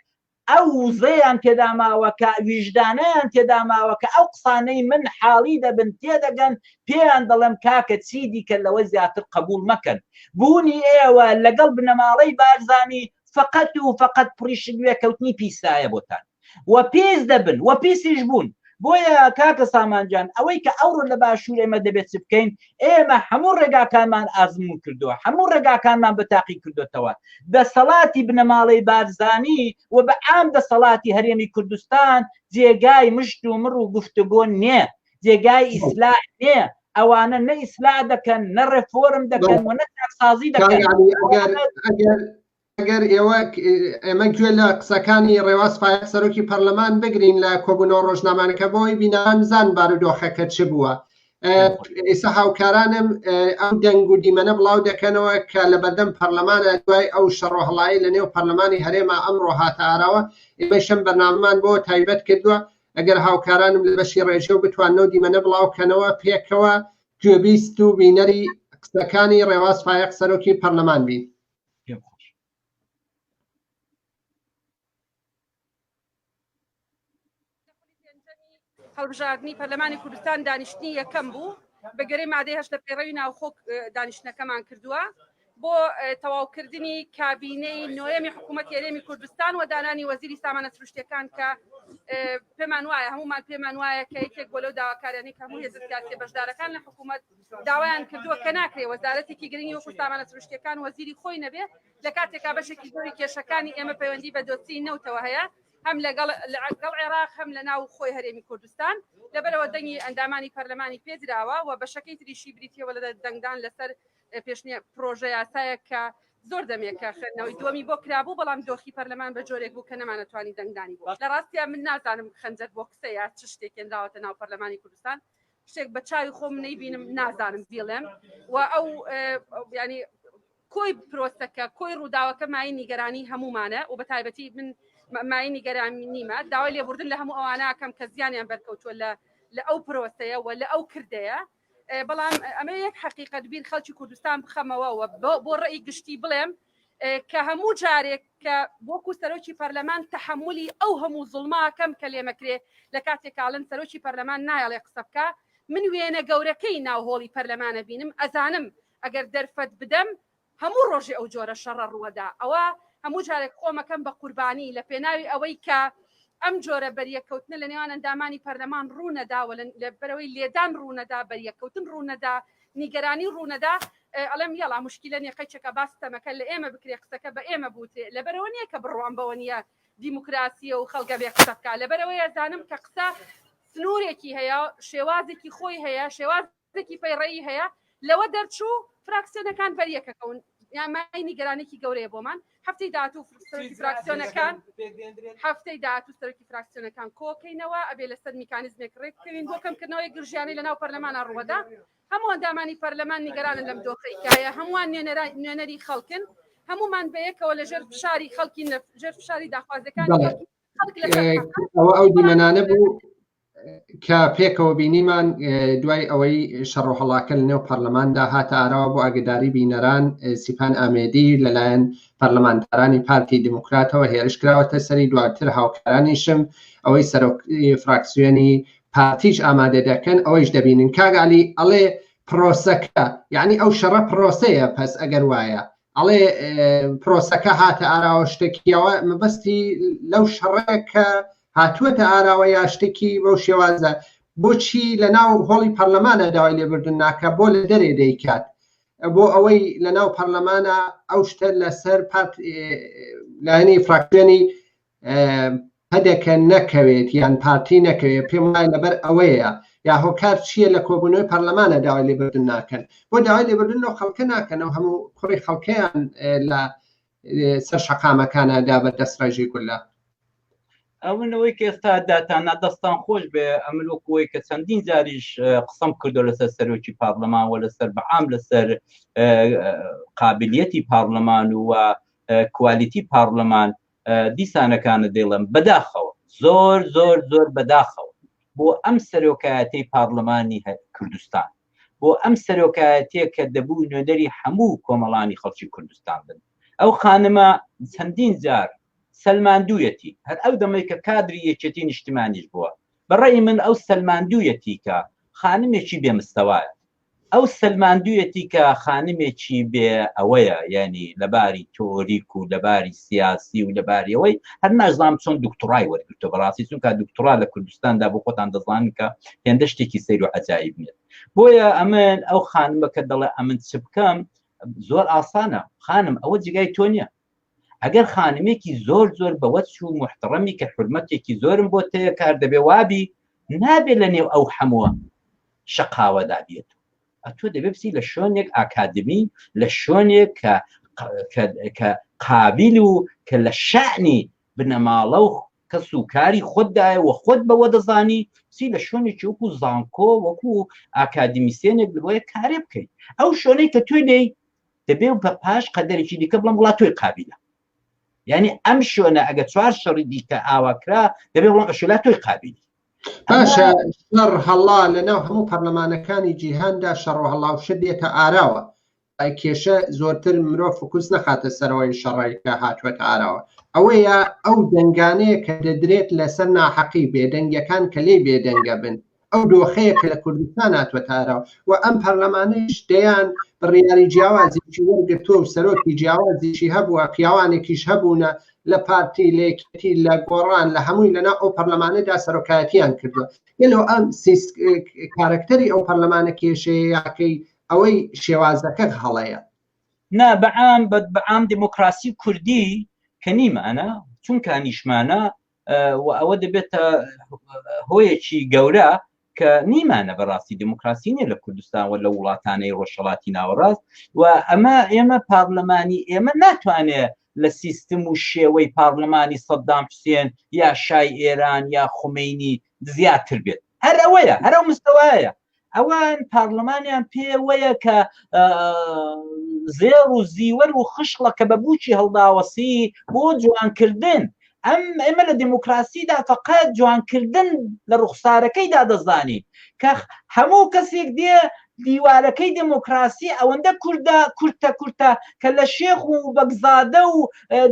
ئەو وزەیان تێدا ماوە کە ویژدانیان تێدا ماوە کە ئەو قسانەی من حاڵی دەبن تێدەگەن پێیان دەڵێم کاکە چی دیکە لەوە زیاتر قەبوڵ مەکەن بوونی ئێوە لەگەڵ بنەماڵەی بارزانی فەقەت و فەقەت پڕیشک وێکەوتنی پیسایە بۆتان و پیس دەبن و پیسیش بوون بۆیە کاکە سامان جان ئەوەی کە ئەوڕۆ لە باشوور ئێمە دەبێت چ بکەین ئێمە هەموو ڕێگاکانمان ئازمون کردووە هەموو ڕێگاکانمان بە تاقی کردوێتەوە دەسەڵاتی بنەماڵەی بارزانی و بە ئام دەسەڵاتی هەرێمی کوردستان جێگای مشت و مڕ و گفتگۆ نێ جێگای ئیسلا نێ ئەوانە نە ئیسلا دەکەن نە ڕێفۆرم دەکەن و نە سازی دەکەن ئەگەر ئێوە ئێمە گوێ لە قسەکانی ڕێواز فایەق سەرۆکی پەرلەمان بگرین لە کۆبوونەوە ڕۆژنامانەکە بۆی بینان زان بارودۆخەکە چ بووە ئێستا هاوکارانم ئەو دەنگ و دیمەنە بڵاو دەکەنەوە کە لە بەردەم پەرلەمانە دوای ئەو شەڕۆهڵایی لە نێو پەرلەمانی هەرێما ئەمڕۆ هاتە ئاراوە ئێمەشم بەناممان بۆ تایبەت کردووە ئەگەر هاوکارانم لە بەشی ڕێژە و بتوانەوە دیمەنە بڵاوکەنەوە پێکەوە گوێبیست و بینەری قسەکانی ڕێواز فایق سەرۆکی پەرلەمان بین پێم خۆش هەڵبژاردنی پەرلەمانی کوردستان دانیشتنی یەکەم بوو بەگەری مادەی هەشتە پێڕەوی ناوخۆک دانیشتەکەمان کردووە بۆ تەواوکردنی کابینەی نۆیەمی حکوومەت یاێمی کوردستان و دانانی وەزیری سامانە سروشتەکان کە پێمان وایە هەمومان پێمان وایە کە یەکێک بۆ لەو داواکارانی کە هەموو هێزسیاسی بەشدارەکان لە حکوومەت داوایان کردووە کە ناکرێت وەزارەتێکی گرنگی وەکو سامانە سروشتییەکان وەزیری خۆی نەبێت، لە کاتێکا بەشێکی زۆری کێشەکانی ئێمە پەیوەندی بە دۆسیەی نەوتەوە هەیە، هەم لەگەڵ لەگەڵ عێراق، هەم لە ناو خۆی هەرێمی کوردستان، لەبەرئەوە دەنگی ئەندامانی پەرلەمانی پێ دراوە و بەشەکەی تریشی بریتییە وە لە دەنگدان لەسەر پێشنیا پرۆژەیاسایەک کە زۆر دەمێکە خوێندنەوەی دووەمی بۆ کرابوو، بەڵام دۆخی پەرلەمان بە جۆرێک بوو کە نەمانەتوانی دەنگدانی بۆ بکەین، لە ڕاستیا من نازانم خەنجەر بۆکسە یا چ شتێک هێنراوەتە ناو پەرلەمانی کوردستان، شتێک بە چاوی خۆم نەیبینم نازانم بیڵێم و ئەو ینی کۆی پرۆسەکە کۆی ڕووداوەکە مای نیگەرانی هەمومانە و بە تایبەتی من مای نیگەرانی نیمە داوای لێبوردن لە هەموو ئەوانەکەم کە زیانیان بەرکەوتووە لە لە ئەو پرۆسەیە و لە ئەو کردەیە بەڵام ئەمە یەک حقیقت بیر خەڵکی کوردستان بخەمەوە و بۆ ڕێی گشتی بڵێم کە هەموو جارێک کە وەکو سەرۆکی پەرلەمان تحملی ئەو هەموو زڵماکەم کە لێمەکرێ لە کاتێکاڵن سەرۆکی پەرلەمان نایڵێ قسە بکە من وێنە گەورەکەی ناو هۆڵی پەرلەمانە بینم ئەزانم ئەگەر دەرفەت بدەم هەموو ڕۆژێ ئەو جۆرە شەڕە ڕووەدا ئەوە هەموو جارێک خۆمەکەم بە قوربانی لە پێناوی ئەوەی کە ئەم جۆرە بەریەکەوتنە لە نێوان ئەندامانی پەرلەمان ڕوونەداوە لە بەرەوەی لێدان ڕوونەدا بەریەکەوتن ڕوونەدا نیگەرانی ڕوونەدا ئەڵێم یەڵا موشکیلە نیە قەیچەکە با ستەمەکە لە ئێمە بکرێ قسەکە بە ئێمە بوترێ لەبەرەوە نیە کە بڕوام بەوە نیە دیموکراسیە و خەڵک ئەبێ قسە بکا لەبەرەوەی ئەزانم کە قسە سنوورێکی هەیە شێوازێکی خۆی هەیە شێوازێکی پەیڕەیی هەیە لەوە دەرچوو فراکسیۆنەکان بەریەکەکەون یامای نیگەرانێکی گەورەیە بۆمان هەفتەی داهاتوو سەرۆکی فراکسیۆنەکان هەفتەی داهاتوو سەرۆکی فراکسیۆنەکان کۆکەینەوە ئەبێ لەسەر میکانیزمێک ڕێک بکەوین بۆ کەمکردنەوەی گرژیانەی لەناو پەرلەمانە ڕوەدا هەموو ئەندامانی پەرلەمان نیگەرانن لەم دۆخەی کایە، هەمووان نوێنەری خەڵکن، هەموومان بەیەکەوە لەژێر فشاری خەڵکین، لەژێر فشاری داخوازیەکانی خەڵکین. ئەوە ئەو دیمەنانە بوو کە پێکەوە بینیمان دوای ئەوەی شەڕۆهڵاکە لە نێو پەرلەماندا هاتە ئاراوە بۆ ئاگداری بینەران سیپان ئامێدی لەلایەن پەرلەمانتارانی پارتی دیموکراتەوە هێرش کراوەتە سەری دواتر هاوکارانیشم ئەوەی سەرۆک فراکسیۆنی پارتیش ئامادە دەکەن ئەوەیش دەبینن کاک علی ئەڵێ پرۆسەکە یعنی ئەو شەڕە پرۆسەیە پس ئەگەر وایە ئەڵێ پرۆسەکە هاتە ئاراوە شتێکیەوە مەبەستی لەو شەڕەکە هاتووەتە ئاراوە یا شتێکی بەو شێوازە بۆچی لە ناو هۆڵی پەرلەمانە داوای لێبردن ناکە بۆ لە دەرێ دەیکات بۆ ئەوەی لە ناو پەرلەمانە ئەو شتە لەسەر پارت لایەنی فراکسیۆنی پەدەکە نەکەوێت یان پارتی نەکەوێت پێم وایە لەبەر ئەوەیە یا هۆکار چییە لە کۆبوونەوەی پەرلەمانە داوای لێبردن ناکەن بۆ داوای لێبردن لەو خەڵکە ناکەنەوە هەموو کوڕی خەڵکەیان لە سەر شەقامەکانە دا بە دەست ڕێژی گولە ئەوەوەی کە ئێستا داتانا دەستان خۆش بێ ئەمن وەکوی کە چەندین جاریش قسم کردو لەسەر سەرۆکی پارلەمان وە لەسەر بەعام لەسەر قابلیەتی پارلەمان و کوالیتی پارلەمان دیسانەکانت دەیڵێم بەداخەوە زۆر زۆر زۆر بەداخەوە بۆ ئەم سەرۆکایەتی پارلمانی کوردستان بۆ ئەم سەرۆکایەتێک کە دەبوو نوێدەری هەموو کۆمەڵانی خەڵکی کوردستان بن ئەو خانمە چەندین جار سەلماندویەتی هەر ئەو دەمەی کە کادری یەکێتی نیشتمانیش بووە بەڕێی من ئەو سەلماندویەتی کە خانمێکی بێمستەوایە ئەو سەلماندویەتی کە خانمێکی بێ ئەوەیە یانی لەباری تۆریک و لەباری سیاسی و لەباریەوەی هەر نازانام چۆن دکتڕای وەرگتو بەڕاستی چون کا دکتڕا لە کوردستاندا بۆ خۆتان دەزان کە هێندە شتێکی سەیر و عجایب نێت بۆیە ئەمن ئەو خانمەکە دەڵێ ئەمن چ بکەم زۆر ئاسانە خانم ئەوە جگای تۆ نییە ئەگەر خانمێکی زۆر زۆر بەوەت چوو محتڕەمی کە حرمەتێکی زۆرم بۆ تەیە کار دەبێ وابی نابێت لە نێو ئەو حەمووە شقاوەدا بێت ئەتۆ دەبێ بسی لە شوێنێک ئاکادمی لە شوێنێک کە کە قابل و کە لە شعنی بنەماڵە و کەس و کاری خۆتدایە و خۆت بەوە دەزانی سی لە شوێنێکی وەکو زانکۆ وەکو ئاکادمیسێنێک بڵێ کارێ بکەیت ئەو شوێنەی کە توێ لێی دەبێ و بە پاش قەدەرێکی دیکە بڵم وڵات تۆی قابیلە یعنی ئەم شوێنە ئەگە چوار شەڕی دیکە ئاواکرا دەبێ وڵام ئەشلا تۆی قابیلی باشە شەڕ هەڵا لەناو هەموو پەرلەمانەکانی جیهاندا شەڕۆ هەڵاوشە بێتە ئاراوە کێشە زۆرتر مرۆ فکوس نەخاتە سەرەوەی شەڕێکە هاتووەتە ئاراوە ئەوەیە ئەو دەنگانەیە کە دەدرێت لەسەر ناحەقی بێدەنگەکان کە لێ بێدەنگە بن ئەو دۆخەیە کە لە کوردستان هاتووەتە ئاراوە و ئەم پەرلەمانەیش دەیان بڕیاری جیاوازیی وەرگرتووە و سەرۆکی جیاوازیشی هەبووە، پیاوانێکیش هەبوونە لە پارتی، لە یەکێتی، لە گۆڕان، لە هەمووی لەناو ئەو پەرلەمانەدا سەرۆکایەتییان کردووە. گەلۆ ئەم کارەکتەری ئەو پەرلەمانە کێشەیە یاکەی ئەوەی شێوازەکە هەڵەیە؟ نا، بە عام، بە عام دیموکراسی کوردی کە نیمانە، چونکە نیشمانە و ئەوە دەبێتە هۆیەکی گەورە کە نیمانە بەڕاستی دموکراسی نیە لە کوردستان و لە وڵاتانەی ڕۆژهڵاتی ناوەڕاست و ئەمە ئێمە پارلەمانی ئێمە ناتوانێت لە سیستم و شێوەی پارلەمانی سەددام حوسێن یا شای ئێران یا خومینی زیاتر بێت هەر ئەوەیە هەرە مستەوایە ئەوان پارلەمانیان پێ وەیە کە زێڕ و زیوەر و خشڵە کە بە بوچی هەڵداوەسی بۆ جوانکردن ئەم ئێمە لە دموکراسیدا فقط جوانکردن لە ڕوخسارەکەیدا دەزانین کە هەموو کەسێک دێ دیوارەکەی دموکراسی ئەوەندە کووردا کورتە کورتە کە لە شێخ و بەگزادە و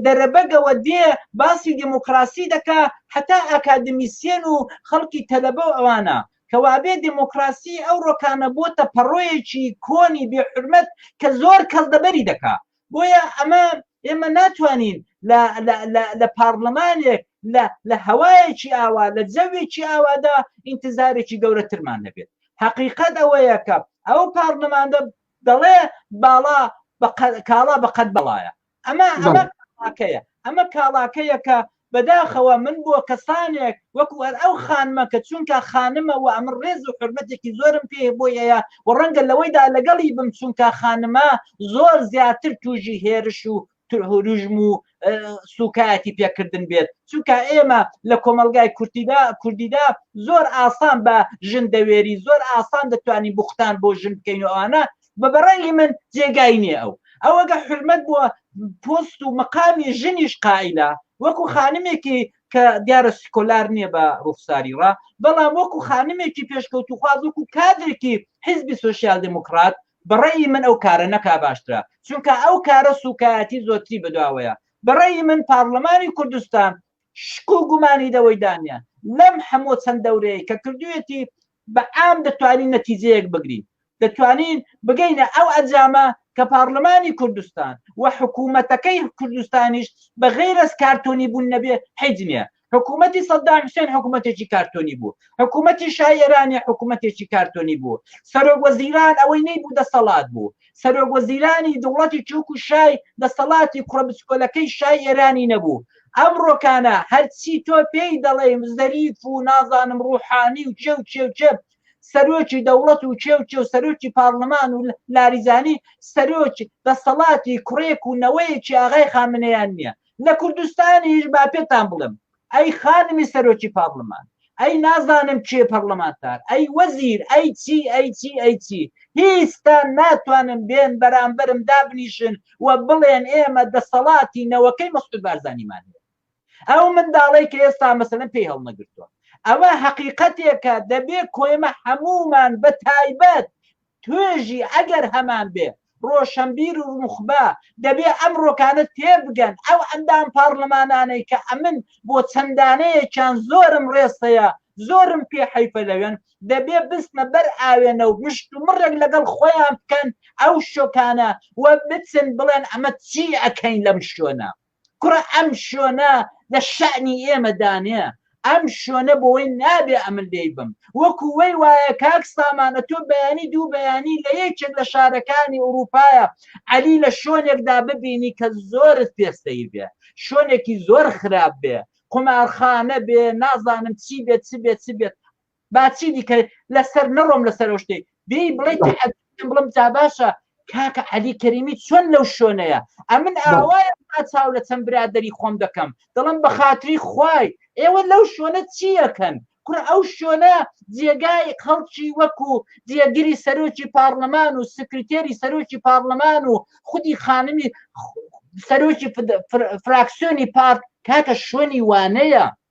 دەرەبەگەوە دێ باسی دموکراسی دەکا هەتا ئاکادمیسیەن و خەڵکی تەلەبە و ئەوانە کەوابێ دێمۆکڕاسیی ئەو ڕۆکانە بۆتە پەڕۆیەکی کۆنی بێ حورمەت کە زۆر کەس دەبەری دەکا. بۆیە ئەمە ئێمە ناتوانین لە لە لە لە پاڕلمانێک لە لە هەوایەکی ئاوا لە جەوێکی ئاوادا ئینتزارێکی گەورەترمان هەبێت. حەقیقەت ئەوەیە کە ئەو پاڕلمانە دەڵێ باڵا بە قە کاڵا بە قەد بەڵایە. ئەمە ئەمە کاڵاکەیە ئەمە کاڵاکەیە کە بەداخەوە من بۆ کەسانێک وەکو ئەر ئەو خانمە کە چونکە خانمە و ئەمن ڕێز و حرمەتێکی زۆرم پێ بۆی ئەیە و ڕەنگە لەوەیدا لەگەڵی بم چونکە خانمە زۆر زیاتر توژی هێرش و ترهروژم و سوکایەتی پێکردن بێت چونکە ئێمە لە کۆمەلگای کوردیدا کوردیدا زۆر ئاسان بە ژن دەوێری زۆر ئاسان دەتوانین بوختان بۆ ژن بکەین و ئەوانە بە بەڕای من جێگای نییە ئەو ئەوەگە حرمەت بووە پۆست و مەقامی ژنیش قائلە وەکو خانمێکی کە دیارە سکۆلار نییە بە ڕوخساری ڕا بەڵام وەکو خانمێکی پێشکەوتوخواز وەکو کادرێکی حزبی سوسیال دموکرات بەڕێی من ئەو کارە نەکا باشترە چونکە ئەو کارە سوکایەتی زۆتری بەدواوەیە بەڕێی من پارلەمانی کوردستان شک و گومانی لەوەی دانیە لەم هەموو چەند دەورەیەی کە کردویەتی بە عام دەتوانین نەتیجەیەک بگرین دەتوانین بگەینە ئەو ئەنجامە کە پارلمانی کوردستان و حکومەتەکەی کوردستانیش بە غەیر از کارتۆنی بوون نەبێ حیج نیە حکومەتی سەدام حسێن حکومەتێکی کارتۆنی بوو حکومەتی شای ئێرانی حکومەتێکی کارتۆنی بوو سەرۆک وەزیران ئەوەی نەیبوو دەسەڵات بوو سەرۆک وەزیرانی دەوڵەتی تورک و شای دەسەڵاتی کوڕە بچکۆلەکەی شای ئێرانی نەبوو ئەمڕۆکانە هەرچی تۆ پێی دەڵێی زەریف و نازانم ڕوحانی و کێ و کێ و کێ سەرۆکی دەوڵەت و کێ و کێ و سەرۆکی پارلمان و لاریزانی سەرۆکی دەسەڵاتی کوڕێک و نەوەیەکی ئاغای خامنەیان نییە لە کوردستانیش با پێتان بڵێم ئەی خانمی سەرۆکی پارلمان ئەی نازانم کێ پەرلەمانتار ئەی وەزیر ئەی چی ئەی چی ئەی چی هیچتان ناتوانن بێن بەرامبەرم دابنیشن و بڵێن ئێمە دەسەڵاتی نەوەکەی مەسعود بارزانیمان هەیە ئەو منداڵەی کە ئێستا مەسەلەن پێی هەڵنەگرتووە ئەوە حەقیقەتێکە دەبێ کۆێمە هەمومان بە تایبەت توێژی ئەگەر هەمان بێ، ڕۆشەنبیر و نوخبە دەبێ ئەم ڕۆکانە تێبگەن، ئەو ئەندام پارلمانانەی کە ئەمن بۆ چەند دانەیەکیان زۆرم ڕێز هەیە، زۆرم پێ حەیفە لەوێن، دەبێ بچنە بەر ئاوێنە و مشتومڕێک لەگەڵ خۆیان بکەن ئەو شۆکانە و بچن بڵێن ئەمە چی ئەکەین لەم شوێنە؟ کوڕە ئەم شۆنە لە شەئنی ئێمە دانێ ئەم شۆنە بۆی نابێ ئەمن لێی بم وەکو وەی وایە کاک سامانە تۆ بەیانی دوو بەیانی لە یەکێک لە شارەکانی ئوروپایە عەلی لە شۆنێکدا ببینی کە زۆرت پێ سەیر بێ شۆنێکی زۆر خراپ بێ قومارخانە بێ نازانم چی بێت چ بێت چ بێت با چی دیکە لەسەر نەڕۆم لەسەر ئەو شتەی دێی بڵێ تەحەدەکەم بڵم جا باشە کاکە عەلی کەریمی چۆن لەو شوێنەیە ئەمن ئاوایە تا چاو لە چەند برادەری خۆم دەکەم دڵم بە خاتری خوای ئێوە لەو شوێنە چییەکەن کوڕ ئەو شوێنە جێگای خەڵکی وەکو جێگری سەرۆکی پارلەمان و سکرتێری سەرۆکی پارلەمان و خودی خانمی سەرۆکی فراکسیۆنی پارت کاکە شوێنی وانەیە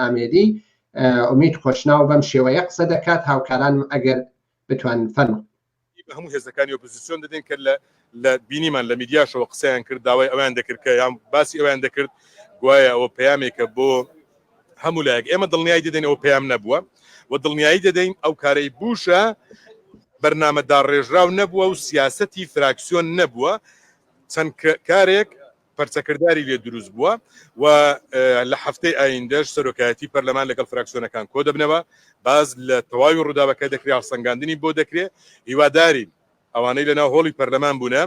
ئامێدی ئومید خۆشناو بەم شێوەیە قسە دەکات هاوکارانم ئەگەر بتوان فەرمو بە هەموو هێزەکانی ئۆپۆزیسیۆن دەدەین کە لە لە بینیمان لە میدیاشەوە قسەیان کرد داوای ئەویان دەکرد کە یان باسی ئەویان دەکرد گوایە ئەوە پەیامێکە بۆ هەموو لایەک ئێمە دڵنیایی دەدەین ئەوە پەیام نەبووە و دڵنیایی دەدەین ئەو کارەی بوشە بەرنامە داڕێژراو نەبووە و سیاسەتی فراکسیۆن نەبووە چەند کارێک پەرچەکرداری لێ دروست بووە و لە هەفتەی ئایندەش سەرۆکایەتی پەرلەمان لەگەڵ فراکسیۆنەکان کۆ دەبنەوە باز لە تەواوی ڕووداوەکە دەکرێت هەڵسەنگاندنی بۆ دەکرێت هیوادارین ئەوانەی لەناو هۆڵی پەرلەمان بوونە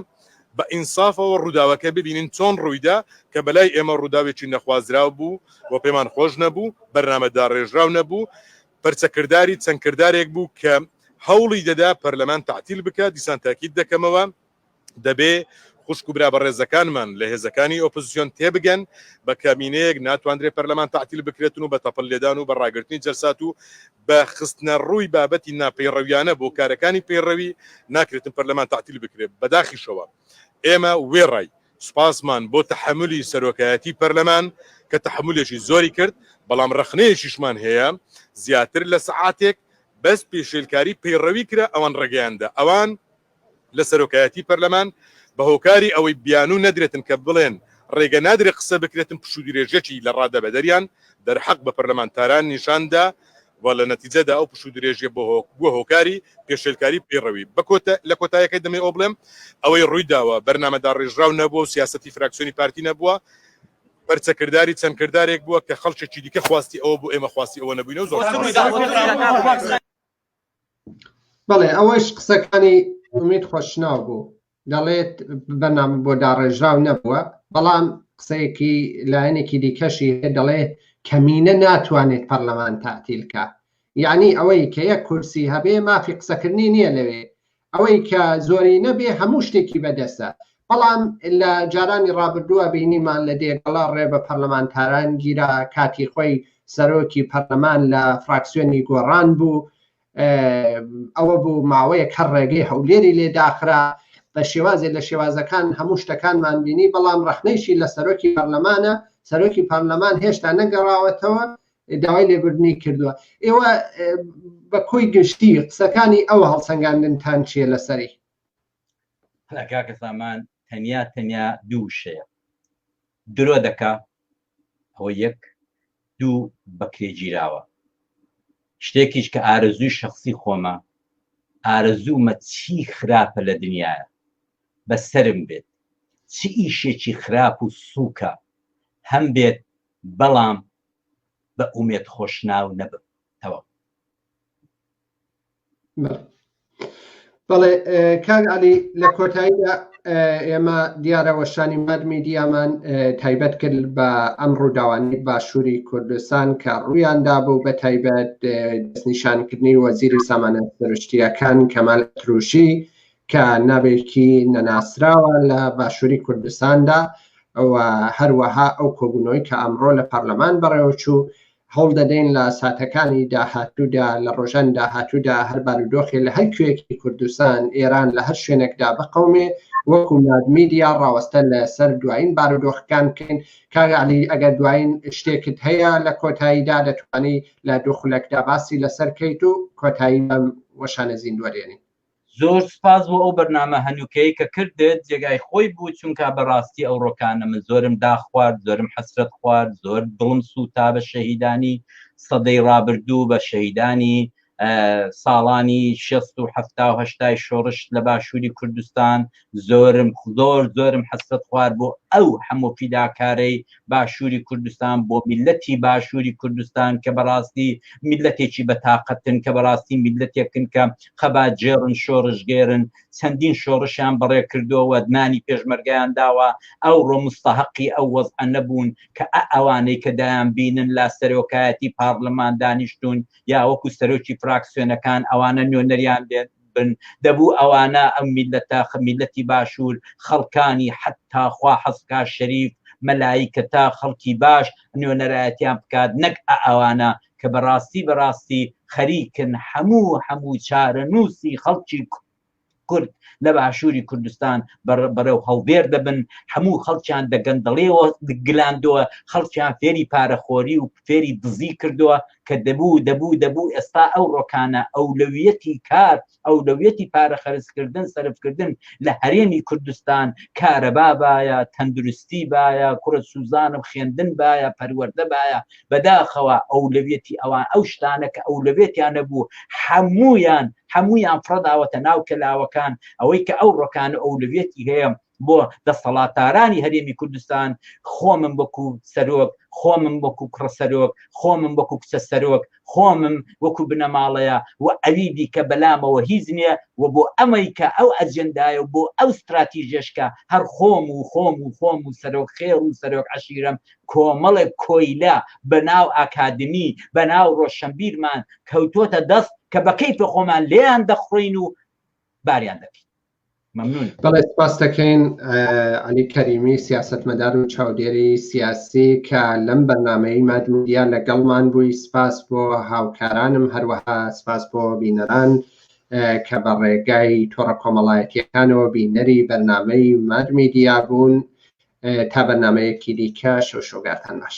بە ئینسافەوە ڕووداوەکە ببینین چۆن ڕوویدا کە بەلای ئێمە ڕووداوێکی نەخوازراو بوو و پێمان خۆش نەبوو بەرنامە داڕێژراو نەبوو پرچەکردداری چەند کردارێک بوو کە هەوڵی دەدا پەرلەمان تعتیل بکە دیسان تاکیت دەکەمەوە دەبێ خوشک و برا بەڕێزەکانمان لە هێزەکانی ئۆپۆزسیۆن تێبگەن، بە کەمینەیەک ناتواندرێ پەرلەمان تەعتیل بکرێتن و بە تەپڵ لێدان و بە ڕاگرتنی جەلسات و بە خستنەڕووی بابەتی ناپەیڕەویانە بۆ کارەکانی پەیڕەوی ناکرێتن پەرلەمان تەعتیل بکرێ. بەداخیشەوە ئێمە وێڕای سوپاسمان بۆ تەحەمولی سەرۆکایەتی پەرلەمان کە تەحەمولێکی زۆری کرد، بەڵام ڕەخنەیەکیشمان هەیە زیاتر لە سەعاتێک بەس پێشێلکاری پەیڕەوی کرا ئەوان ڕێگەیان دا ئەوان لە سەرۆکایەتی پەرلەمان بە هۆکاری ئەوەی بیانوو نەدرێتن کە بڵێن ڕێگە نادرێت قسە بکرێتن پشوودرێژیی لە ڕادە بەدەریان دەرحەق بە پەرلەمانتاران نیشان دا و لە نەتیجەدا ئەو پشوودرێژیە بووە هۆکاری پێشێلکاری پەیڕەوی بە کۆتە لە کۆتایەکەی دەمەوێ ئەوە بڵێم ئەوەی ڕووی داوە بەرنامە داڕێژراو نەبووە و سیاسەتی فراکسیۆنی پارتی نەبووە پەرچەکرداری چەند کردارێک بووە کە خەڵکێکی دیکە خواستی ئەوە بوو ئێمە خواستی ئەوە نەبووینە و زۆر بەڵێ ئەوەش قسەکانی ئومید خۆشناو بوو دەڵێت بەنام بۆ داڕێژراو نەبووە بەڵام قسەیەکی لایەنێکی دیکەشی دەڵێ کەمینە ناتوانێت پەرلەمان تاتیلکە یعنی ئەوەی کە یەک کورسی هەبێ مافی قسەکردنی نییە لەوێ ئەوەی کە زۆری نەبێ هەموو شتێکی بەدەستە، بەڵام لە جارانی ڕابردووە بینیمان لە دێگەڵە ڕێ بە پەرلەمانتاران گیرا، کاتی خۆی سەرۆکی پەرلەمان لە فراکسیۆنی گۆڕان بوو، ئەوە بوو ماوەیەک هەر ڕێگەی هەولێری لێ داخرا، بە شێوازێ لە شێوازەکان هەموو شتەکانمان بینی، بەڵام ڕەخنەیشی لە سەرۆکی پەرلەمانە، سەرۆکی پەرلەمان هێشتا نەگەڕاوەتەوە، داوای لێبوردنی کردووە ئێوە بە کۆی گشتی قسەکانی ئەو هەڵسەنگاندنتان چیە لەسەری کاکە سامان تەنیا تەنیا دوو شەیە درۆ دەکا ئەوە یەک دوو بەکرێ گیراوە شتێکیش کە ئارەزووی شخصی خۆمە ئارەزوومە چی خراپە لە دنیاە بە سرم بێت چی ئیشێکی خراپ و سووکە هەم بێت بەڵام بە ئومێد خۆشناو نەبم تەواو. بەڵێ کاک علی لە کۆتاییدا ئێمە دیارە وەشانی ماد میدیامان تایبەت کرد بە ئەم ڕووداوانی باشووری کوردستان کە ڕوویاندا بوو بە تایبەت دەستنیشانکردنی وەزیری سامانە سروشتیەکان کەمال تروشی کە ناوێکی نەناسراوە لە باشووری کوردستاندا و هەروەها ئەو کۆبوونەوەی کە ئەمڕۆ لە پەرلەمان بەڕێوەچوو هەوڵ دەدەین لە ساتەکانی داهاتوودا لە ڕۆژان داهاتوودا هەر بارودۆخی لە هەر کوێکی کوردستان ئێران لە هەر شوێنێکدا بقومێ وەکو میدیا ڕاوەستە لە سەر دوایین بارودۆخەکان بکەین کاگەعلی ئەگەر دوایین شتێکت هەیە لە کۆتاییدا دەتوانی لە دوو خولەکدا باسی لەسەر کەیت و کۆتایی وەشانە زیندوەرێنین زۆر سوپاس بۆ ئەو بەرنامە هەنووکەی کە کردت جێگای خۆی بوو چونکا بەڕاستی ئەو ڕۆکانە من زۆرم داخوارد زۆرم حەسرەت خوارد زۆر دڵم سووتا بە شەهیدانی سەدەی ڕابردوو بە شەهیدانی ساڵانی شەست و حەفتا و هەشتای شۆڕش لە باشووری کوردستان زۆرم زۆر زۆرم حەسەت خوار بۆ ئەو هەموو فیداکارەی باشووری کوردستان بۆ میلەتی باشووری کوردستان کە بەڕاستی میلەتێکی بە تااقەتن کە بەڕاستی میلەتێکن کە خەبا جێڕن شۆڕشگێرن چەندین شۆڕشیان بەڕێ کردووە نانی پێشمەرگیان داوە ئەو ڕۆمستەحقی ئەو وەز نەبوون کە ئەوانەی کە دایان بینن لا سەرۆکایەتی پارلمان دانیشتون یا وەکو سەرۆکی فراکسیۆنەکان ئەوانە نوێنەریان بێت بن دەبوو ئەوانە ئەم میلەتە میلەتی باشور خەڵکانی حەتا خوا حەزبکا شەریف مەلایکەتە خەڵکی باش نوێنەرایەتیان بکات نەک ئەوانە کە بەڕاستی بەڕاستی خەریکن هەموو هەموو چارەنووسی خەڵکی کورد لە باشووری کوردستان بەرەو هەڵدێر دەبن هەموو خەڵکیان دەگەندەڵێەوە گلاندەوە خەڵکیان فێری پارەخۆری و فێری دزی کردووە کە دەبوو دەبوو دەبوو ئێستا ئەو ڕۆکانە ئەولەویەتی کار ئەولەویەتی پارە خەرجکردن سەرفکردن لە هەرێمی کوردستان کارەبا بایە تەندروستی بایە کوڕە سوزانم خوێندن بایە پەروەەردە بایە بەداخەوە ئەولەویەتی ئەوان ئەو شتانە کە ئەولەوێتیان نەبوو هەمویان هەمویان فڕداوەتە ناو کەلاوەکان ئەوەی کە ئەو ڕۆکانە ئەولەویەتی هەیە بۆ دەسەڵاتارانی هەرێمی کوردستان، خۆمم وەکو سەرۆک، خۆمم وەکو کوڕە سەرۆک، خۆمم وەکو کچە سەرۆک، خۆمم وەکو بنەماڵەیە و ئەوی دیکە بەلامەوە هیچ نییە و بۆ ئەمەی کە ئەو ئەجێندایە و بۆ ئەو ستراتیژەش کە هەر خۆم و خۆم و خۆم و سەرۆک خێڵ و سەرۆک عەشیرەم کۆمەڵێک کۆیلە بە ناو ئاکادمی، بە ناو ڕۆشەنبیرمان کەوتۆتە دەست کە بە کەیفە خۆمان لێیان دەخڕۆین و باریان دەکەین. بەڵێ سپاس دەکەین علی کەریمی سیاستمەدار و چاودێری سیاسی کە لەم بەرنمەی مادمدیا لەگەڵمان بووی سپاس بۆ هاوکارانم هەروەها سپاس بۆ بینەران کە بە ڕێگای تۆڕە کۆمەڵایەتیەکانەوە بینەری بەرنمەی مادمیدیا بوون تا بەرنمەیەکی دیکە شەو شۆگاتان باش.